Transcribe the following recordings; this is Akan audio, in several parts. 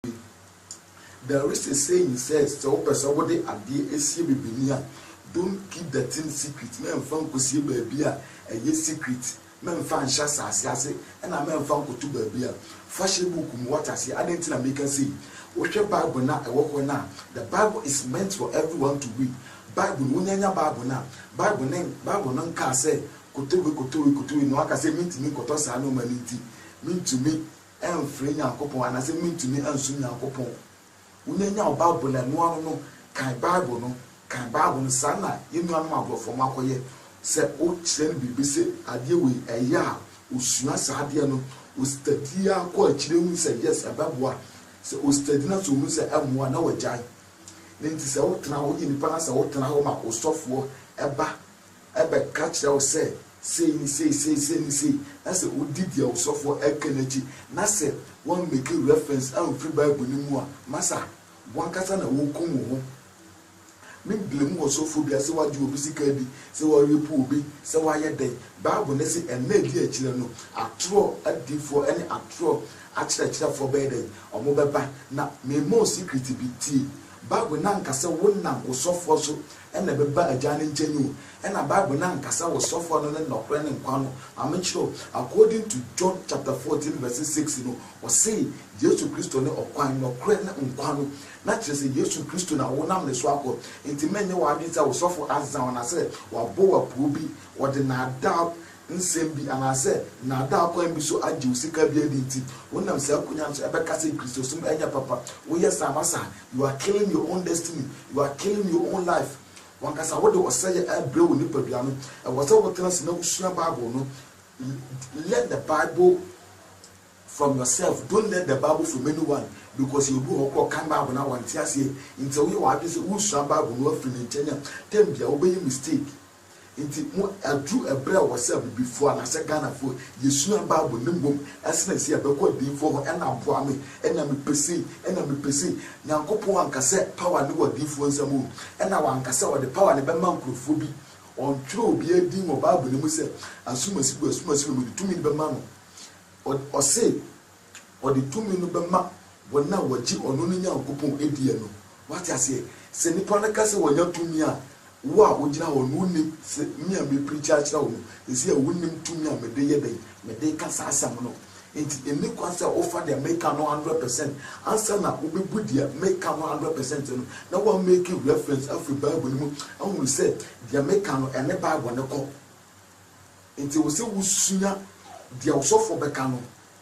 bi. There is a saying says sɛ wopɛ sɛ wode adeɛ ɛsie bebeni a don't keep the thing secret mɛnfa nkɔsie baabi a ɛyɛ secret mɛnfa nhyɛ asaase ase ɛna mɛnfa nkɔto baabi a fa hyɛ book mu wate aseɛ adɛn nti na meka sei wohwɛ bible no a ɛwɔ hɔ no a the bible is meant for everyone to read bible no wonya nya bible no a bible no bible no nkaa sɛ kɔtɔ wei kɔtɔ wei kɔtɔ wei na waka sɛ mentumi nkɔtɔ saa nnoɔma no nti mentumi ɛmfre Nyankopɔn anaasɛ mentumi nsom Nyankopɔn. Wonya nya wo Bible na noa ano no kan Bible no, kan Bible no, saa na yɛn nuanom aborɔfoɔ no akɔyɛ. Sɛ wo kyerɛ no biribi sɛ adeɛ wei ɛyɛ a, ɔsua saa adeɛ no, ɔstadi ara kɔ akyire hunu sɛ yes ɛbɛboa, sɛ ɔstadi na sɛ ɔhunu sɛ ɛmmoa na wagyae. Ne nti sɛ wotena hɔ, woyɛ nipa na sɛ wotena hɔ ma osɔfoɔ ba bɛka kyerɛ wo sɛ, Sei ne sei, sei, sei ne sei, na sɛ wodi deɛ wo sɔfoɔ reka no akyi, na sɛ woammake reference amfiri Bible no mu a, masa, w'ankasa na worekum wo ho. Me blame ɔsɔfoɔ biara sɛ wagye obi sika adi, sɛ warape obi, sɛ wayɛ dɛn. Bible no se ɛnna a ɛdi akyire no, atorɔ adiyifoɔ ne atorɔ akyerɛkyerɛfoɔ bɛyɛ dɛn? Wɔbɛba. Na merema wo secret bi, tie. Bible no anka sɛ wonam wo sɔfoɔ so na ɛbɛba Agya no nkyɛn o, ɛna Bible no anka sɛ wo sɔfoɔ no ne nɔkorɛ ne nkwa no, ma me nkyerɛ wo, according to John chapter fourteen verse six no, ɔse Yesu Kristo ne ɔkwan, nɔkorɛ ne nkwa no, na kyerɛ sɛ Yesu Kristo na wo nam ne so akɔ, nti mɛnyɛ w'adwene sɛ wo sɔfo azaw anaa sɛ wabɔ wo apuo bi, ɔde naadaa nsɛm bi anaasɛ nnaadaa kwan bi so agye wo sika bi adi nti, wonam saa akonya no so ɛbɛka sɛ Kristosom ɛnyɛ papa. Woyɛ saa ma saa, you are killing your own destiny, you are killing your own life. W'ankasa wode ɔsɛeɛ ɛrebrɛ wo nipadua no. Ɛwɔ sɛ wotena ase na wosua Bible no. Learn the Bible from yourself, don't learn the Bible from anyone because yɛwɔ bi wɔ hɔ koraa ɔkan Bible no a wante aseɛ nti sɛ woyɛ w'adwene sɛ woresua Bible no afiri ne nkyɛn a, tam biara wobɛyɛ mistake. Nti mo aduru ɛberɛ a ɛwɔ sɛ abibifoɔ anaasɛ Ghanafoɔ yɛsua bible ne mmom ɛsene sɛ yɛbɛkɔ adiyifoɔ hɔ ɛna aboa me ɛna mepɛ sei ɛna mepɛ sei Nyankopɔn anka sɛ power no wɔ adiyifoɔ nsam oo ɛna wanka sɛ ɔde power no bɛma nkorɔfoɔ bi ɔntwerɛ obiara din wɔ bible no mu sɛ asumasi wei asumasi wei mede tumi no bɛma no ɔse Ɔde tumi no bɛma wɔn a wɔgye ɔno ne Nyankopɔn diɛ no. Wate aseɛ? Sɛ nnipa no ka sɛ wɔanya tumi a, wo a wogyina hɔ no wonni, sɛ me a merepreakyi akyerɛ wo no seesei a wonnim tumi a mede yɛ dɛn, mede reka saa asɛm no. Enti ɛnni kwan sɛ wofa deɛ mereka no hundred percent ansa na wobɛbu deɛ mereka no hundred percent no na woamake reference afiri Bible no mu ahunu sɛ deɛ mereka no ɛne Bible no kɔ. Enti ɛwɔ sɛ wosua deɛ ɔsɔfoɔ bɛka no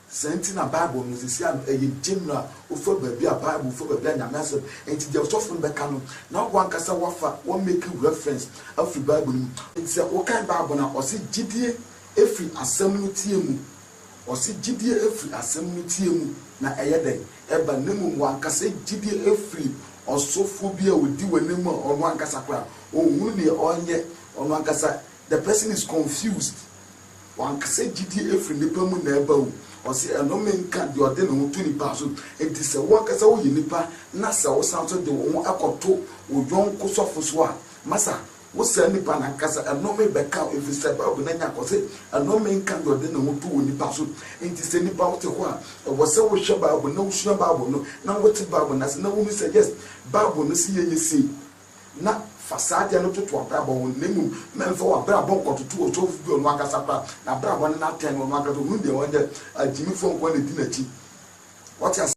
Saa nti na Bible no sesia no ɛyɛ gyamire a wofa baabi a Bible fa baabi a Nyame asɛm nti deɛ ɔsɔfo no bɛka no na wankasa wafa wa make reference afiri Bible no mu. Nti sɛ wokan Bible no a ɔse gyidie ɛfiri asɛm no tie mu, ɔse gyidie ɛfiri asɛm no tie mu na ɛyɛ dɛn? ɛba na mmom wankasa gyidie ɛfiri ɔsɔfoɔ bi a ɔdi w'anim a ɔno ankasa koraa ɔnhunu deɛ ɔnyɛ ɔno ankasa The person is confused, Wankasa gyidie ɛfiri nnipa mu na ɛba o, ɔse ɛnome nka deɛ ɔde ne ho to nnipa so, enti sɛ wo ankasa woyɛ nnipa na sɛ wosan nso de wo ho kɔto wo yɔnko sɔfo so a, masa, wo saa nnipa no ankasa ɛnome bɛka wo ɛfiri sɛ Bible no anya kɔ se ɛnome nka deɛ ɔde ne ho to onipa so, enti sɛ nnipa wote hɔ a ɛwɔ sɛ wohwɛ Bible na wosua Bible no na wote Bible no ase na wohunu sɛ yes Bible no se yɛnyɛ sei. na fa saa adeɛ no toto w'abrabɔ ho, na mmom ma ɛmfa w'abrabɔ nkɔtoto ɔsɔfo bi a ɔno ankasa koraa n'abrabɔ ne n'atɛn no ɔno ankasa ɔhunu deɛ ɔnyɛ, agyimifoɔ nko ara na ɛdi n'akyi. Wate aseɛ?